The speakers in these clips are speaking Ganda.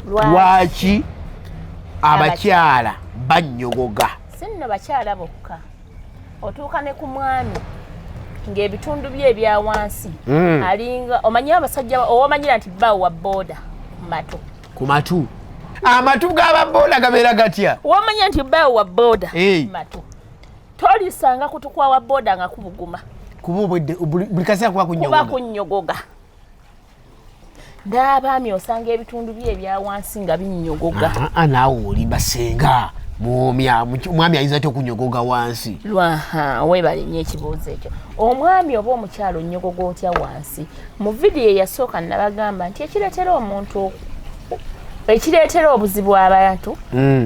lwaki abakyala bannyogoga sinno bakyala bokka otuuka ne ku mwami ng'ebitundu bye ebya wansi hmm. alinga omanyi abasajja owomanyira nti bba wa booda matu ku matu amatu g'ababooda gabeera gatya womanya nti bba wa booda matu tolisanga kutukwa wa booda nga kubuguma kuba buli kaseera kuba kunyogoga n'abaami osanga ebitundu bye ebya wansi nga binnyogoga ah, ah, naawe oli basenga mwomya omwami ayinza atya okunyogoga wansi lwaha webale nyo ekibuuzo ekyo omwami oba omukyalo onyogoga otya wansi mu vidiyo eyasooka nabagamba nti ekireetera omuntu ekireetera obuzibu abantu mm.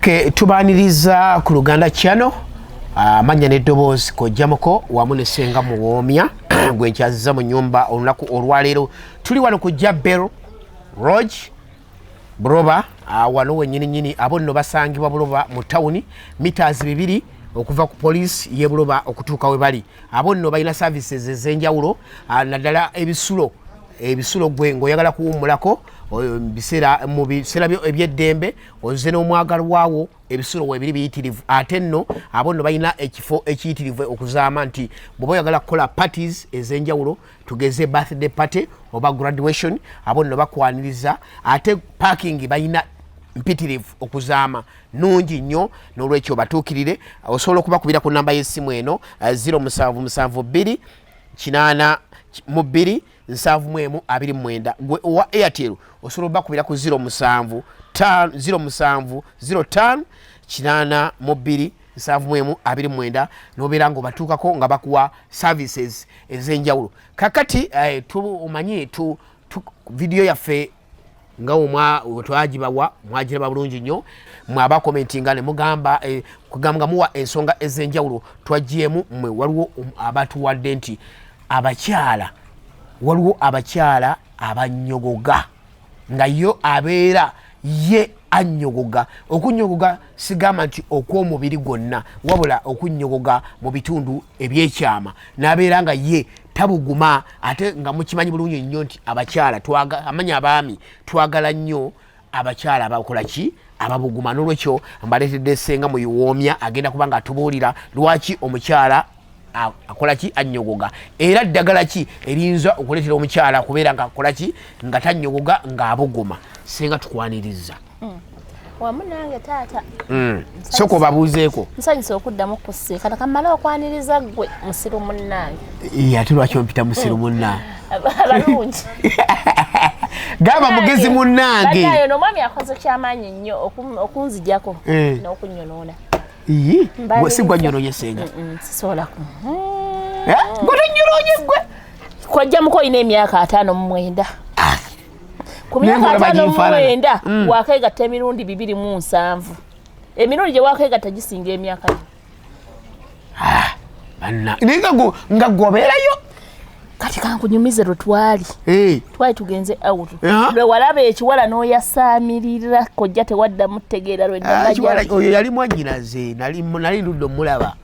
ke tubaniriza ku luganda kyano amanya ah, neddoboozi kojjamuko wamu nesenga muwoomya gwe nkyaziza mu nyumba olunaku olwaleero tuli wano ku jabel roge buroba ah, wano wenyininyini abo nno basangibwa buloba mu tawuni mitas bibiri okuva ku poliisi yebuloba okutuuka we bali abo nno balina services ezenjawulo ah, naddala ebisulo ebisulo gwe ngaoyagala kuwummulako mu biseera eby'eddembe ozze n'omwagalwa wo ebisulo webiri biyitirivu ate nno abo nno balina ekifo ekiyitirivu okuzaama nti bweoba oyagala kukola parties ez'enjawulo tugeze birthday party oba graduation abo nno bakwaniriza ate parking balina mpitirivu okuzaama nungi nnyo n'olwekyo batuukirire osobola okubakubira ku namba y'essimu eno 0772 eh, 8 mu 2 nsanvu mu emu abiri mu mwenda gwe owa airtel osobola obakubira ku ziro musanvu ziro musanvu ziro tano kinaana mu bbiri nsanvu mu emu abiri mu mwenda nobeera nga obatuukako nga bakuwa services ez'enjawulo kakati eh, omanyi tu vidiyo yaffe nga wetwagibawa mwagiraba bulungi nnyo mwe abakomenti nga nemugamba eh, kugamba nga muwa ensonga ezenjawulo twagyemu mwe waliwo um, abatuwadde nti abakyala waliwo abakyala abanyogoga nga yo abeera ye anyogoga okunyogoga sigamba nti okw'omubiri gwonna wabula okunnyogoga mu bitundu ebyekyama n'abeera nga ye tabuguma ate nga mukimanyi bulungi nnyo nti abakyala amanya abaami twagala nnyo abakyala abakola ki ababuguma n'olwekyo mbaleetedde senga muyiwoomya agenda kuba nga atubuulira lwaki omukyala akolaki anyogoga era ddagala ki eriyinza okuleetera omukyala kubeera nga akolaki nga tanyogoga ng'abuguma singa tukwaniriza hmm. wamu nange taata hmm. soka obabuuzeeko nsanyusa okuddamu kusiikana kamale okwaniriza ggwe musiru munnange ate lwaki ompita musiru hmm. munnange abalungi gamba mugezi munnange omwami akoze kyamaanyi nnyo okunzijako eh. n'okunyonoona Iyi, gwe si gwanyoroye senga. Sisobola ku. Eh? Gwe tonyoroye gwe. Kwajja muko ine emyaka atano mu mwenda. Ah. Ku myaka atano mu mwenda mm. wakega temirundi bibiri mu nsanvu. Emirundi je wakega tajisinga emyaka. Ah. Banna. Ninga go nga goberayo. kati kankunyumize lwe twali eh. twali tugenze out lwe walaba ekiwala n'oyasaamirira kojja tewaddamu tegeera lweoyo ah, yali mwanyinaze nali ludde omulaba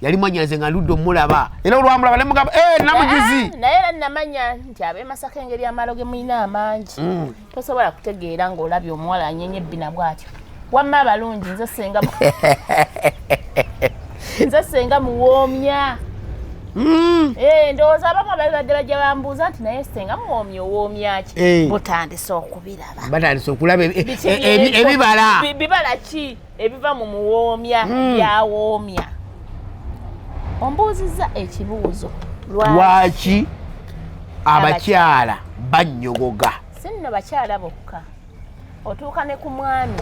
yali mwanyinaze nga ludde omulaba era olwamulaba nemugamba eh, namujuzi ah, naye era namanya nti abemasaka engeri amalo ge mulina amangi mm. tosobola kutegeera ng'olabye omuwala anyenye ebbina bw'atyo wamma abalungi nze senga nze senga muwoomya hmm. eh, ndowooza abamu ababibadde bajja bambuuza nti naye senga muwoomya owoomyaki eh. butandise okubiraba batandise okulaba e- e- e- ebibala bibala ki ebiva mu muwoomya hmm. byawoomya ombuuzizza ekibuuzo lwaki abakyala bannyogoga si nno bakyala bokka otuuka ne ku mwami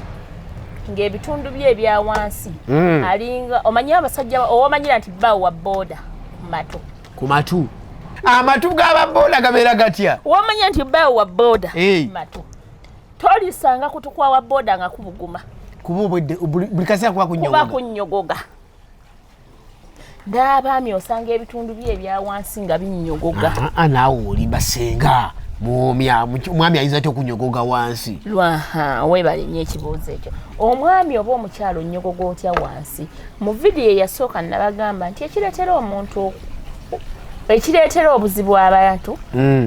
ng'ebitundu bye ebya wansi hmm. alinga omanyi abasajja owomanyira nti bba wa booda matu ku matu amatu g'ababooda gabeera gatya womanya nti bba wa booda matu tolisanga kutukwawa boda nga kubuguma kuba obwedde buli kaseera kuba kunyogoga kuba kunyogoga n'abaami osanga ebitundu bye ebya wansi nga binyogoga ah, ah, naawe oli basenga mwomya omwami ayinza atya okunyogoga wansi lwaha webale nyo ekibuuzo ekyo omwami oba omukyalo onyogoga otya wansi mu vidiyo eyasooka nabagamba nti ekireetera omuntu ekireetera obuzibu abantu mm.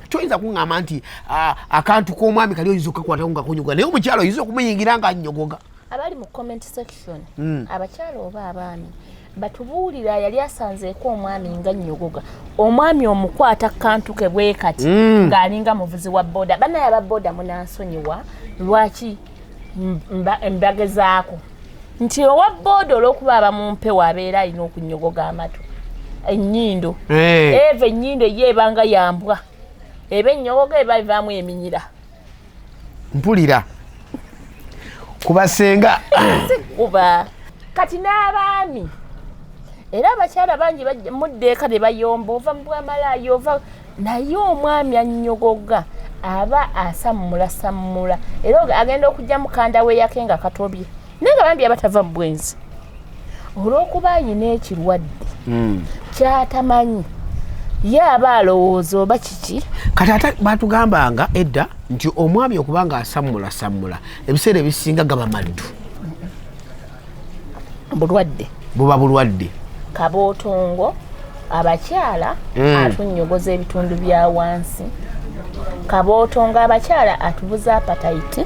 toyinza kuŋŋamba nti ah, akantu k'omwami kali oyinza okukakwatako nga kunyogoga naye omukyalo oyinza okumuyingira nga anyogoga abali mu comment section hmm. abakyalo oba abaami batubuulira yali asanzeeko omwami nga nyogoga omwami omukwata kantu ke bwe kati hmm. ng'alinga muvuzi wa boda banaye aba boda munansonyiwa lwaki mbagezaako nti owa booda olwokuba aba mumpewo abeera alina okunyogoga amatu enyindo eh. eva enyindo ye ebanga yambwa eba enyogoga eba evaamu eminyira mpulira kubasenga sikuba kati n'abaami era abakyala bangi muddeeka ne bayomba ova mu bwamalaaya ova naye omwami annyogoga aba asammulasammula era agenda okujja mukanda weyake nga katobye naye nga bambi abatava mu bwenzi olw'okuba ayina ekirwadde hmm. kyatamanyi ye aba alowooza oba kiki kati ate batugambanga edda nti omwami okuba nga asammulasammula ebiseera ebisinga gaba maddu bulwadde buba bulwadde kabootongo abakyala mm. atunnyogoza ebitundu bya wansi kabootongo abakyala atubuza apatayiti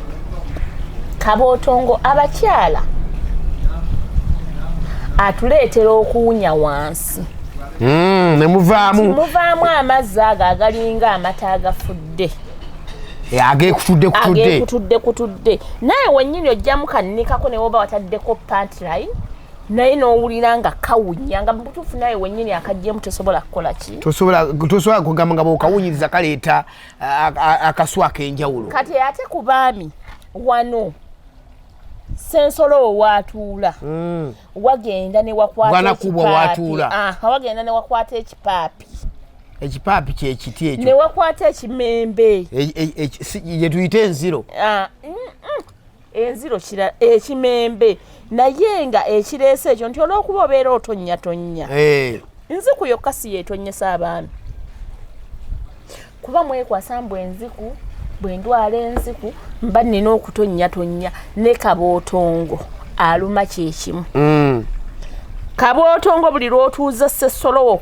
kabootongo abakyala atuleetera okuwunya wansi mm, nemuvaamu muvaamu amazzi ago agalinga amata agafudde Eh, agekutudde kutudde agekutudde kutudde naye wenyini ojjamu kannikako newoba wataddeko pantline naye nowulira nga kawunya nga mubutuufu naye wenyini akajjemu tosobola kukola ki tosobola kugamba nga bwokawunyiriza kaleeta akaswa akenjawulo kati ate ku baami wano sensolo wewatuula hmm. wagenda newakwata ekipapi wagenda newakwata ekipaapi ekipaapi kyekiti ekyo newakwata ekimembe gyetuyita e, e, enziro ah, mm, mm. enziro kira ekimembe naye nga ekireese ekyo nti olwokuba obeera otonnyatonya eh. nziku yokka si yeetonyesa abaana kuba mwekwasa mbu enziku bwendwala enziku mba nina okutonnyatonya ne kabootongo aluma kyekimu mm. kabootongo buli lwotuuza sesolowo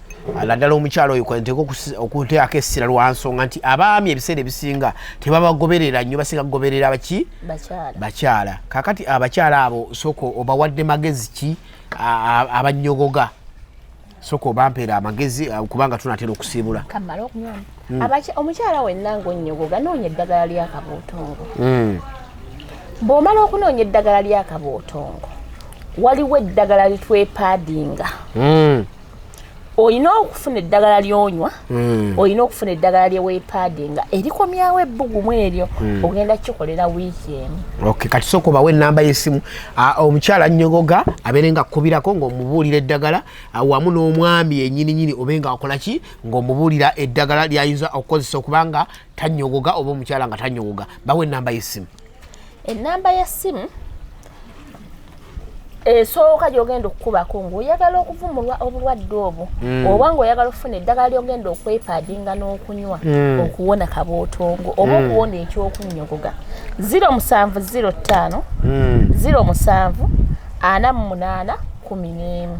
naddala omukyalo oyo kwanteeka okuteako essira lwa nsonga nti abaami ebiseera ebisinga tebabagoberera nnyo basinga kugoberera baki bakyala kakati abakyala abo soko obawadde magezi ki abanyogoga soka obampeera amagezi uh, kubanga tunatera okusiibula hmm. omukyala wenna ngaonyogoga noonya eddagala lyakabootongo hmm. bw'omala okunoonya eddagala lyakabootongo waliwo eddagala litwepaadinga hmm. olina okufuna eddagala lyonywa hmm. olina okufuna eddagala lyewepaade nga erikomyawo ebbugumu eryo hmm. ogenda kikolera wiiki emu kati soka obawo enamba yesimu omukyala nyogoga abeere nga akubirako ngaomubuulira eddagala wamu n'omwami yenyininyini obe nga akola ki ngaomubuulira eddagala lyayinza okukozesa okubanga tanyogoga oba omukyala nga tanyogoga bawo enamba yesimu ennamba ya ssimu esooka gyogenda okukubako ngaoyagala okuvumulwa obulwadde obwo mm. oba ngaoyagala okufuna eddagala lyogenda okwepaadinga n'okunywa mm. okuwona kabootongo oba mm. okuwona ekyokunnyogoga 0705 07 ana mu munaana kumi n'emu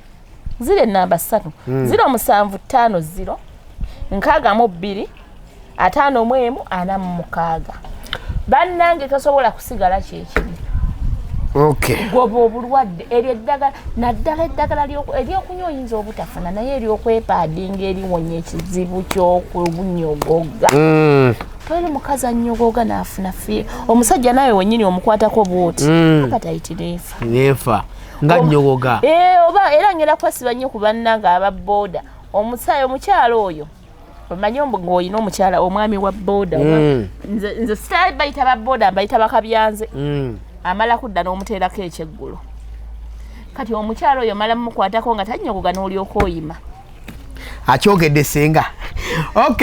ziro enamba satu mm. ziro musanvu tano ziro nkaga mu biri atano mwemu ana mukaga banange tosobola kusigala kyekibi okay goba obulwadde eryo eddagala naddala eddagala eryokunywa oyinza obutafuna naye eryokwepaadinga eriwonya ekizibu kyokunyogoga mm. toyina omukazi anyogoga nafuna fie omusajja nawe wenyini omukwatako bwoti mm. abatayitireefa nefa nga nyogoga eh, oba era ngenda kwesiba nnyo ku bannange aba booda omusaayi omukyala oyo omanyi ng'olina omukyala omwami wa booda mm. nze sitali bayita ba booda mbayita bakabyanze mm. amala kudda n'omuteerako ekyeggulo kati omukyala oyo mala mukwatako nga tanyogoga n'olyoka oyima akyogedde senga ok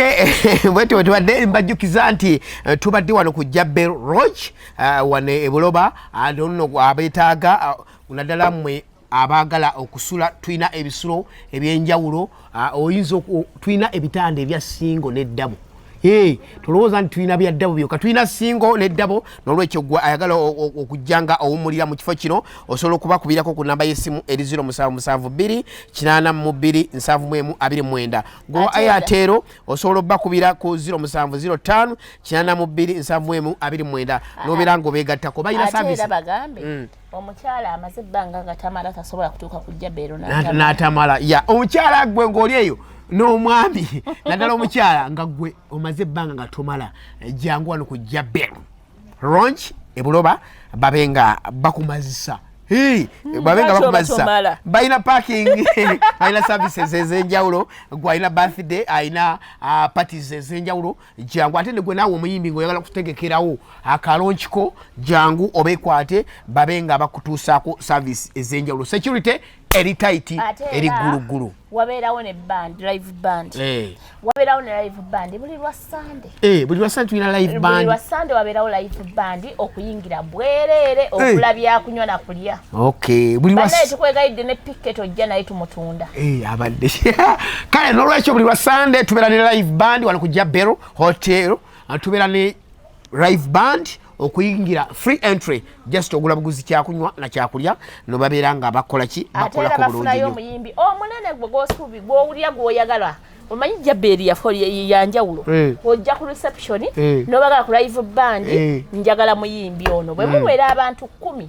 bwetyo bwetubadde mbajjukiza nti eh, tubadde wano ku jabel roge uh, wano ebuloba and ono abetaaga uh, naddala mwe abaagala okusula tulina ebisulo ebyenjawulo uh, oyinza tulina ebitanda ebya singo neddabo Hey, tulowooza nti tulina byaddabo byoka tulina singo neddabo nolwekyo gwe ayagala okujja nga owumulira mu kifo kino osobola okubakubirako ku namba y'essimu eri 0772 8 2 7 gwe ayateero osobola obakubira ku 07058279 nobera nga obegattako balina savisebagambe mm. omukyala amaze ebbanga nga tamala tasobola kutuuka ku jabeero natamala ya omukyala gwe ngaoli eyo n'omwami naddala omukyala nga gwe omaze ebbanga nga tomala eh, jangu wano ku jabeero ronch ebuloba babe nga bakumazisa hmm, babe nga bakumazisa balina parking alina services ezenjawulo gwalina birthday alina uh, parties ezenjawulo jangu ate negwe naawe omuyimbi ngaoyagala kutegekerawo akalonchiko jangu obekwate babe nga bakutuusaako service ezenjawulo security eri tight eri gulugulu wabeerawo ne band live band eh wabeerawo ne live band buli lwa sunday eh buli lwa sunday tulina live band buli lwa sunday wabeerawo live band okuyingira bwerere eh. okula bya kunywa na kulya okay buli lwa sunday tukwegayidde ne picket ojja naye tumutunda eh abadde kale nolwekyo buli lwa sunday tubeera ne live band wano kujja bero hotel tubeera ne live band okuyingira free entry just ogula buguzi kyakunywa na kyakulya no babeera nga bakola ki bakola ko bulungi yo muyimbi omunene gwe gosubi gwe owulira gwe oyagala omanyi jabbeeri yanjawulo eh. ojja ku reception eh. nobagala ku live band eh. njagala muyimbi ono bwe muwera abantu kumi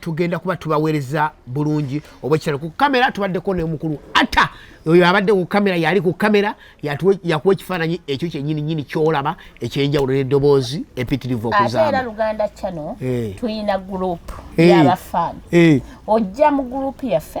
tugenda kuba tubaweereza bulungi obwekitalo ku kamera tubaddeko nomukulu ata oyo abadde ku kamera yali ku kamera yakuwa ekifaananyi ekyo kyenyini nyini kyolaba ekyenjawulo nedoboozi empitirivu okuzaera luganda chano eh. tulina gurupu eh. yabafan eh. ojja mu gurupu yaffe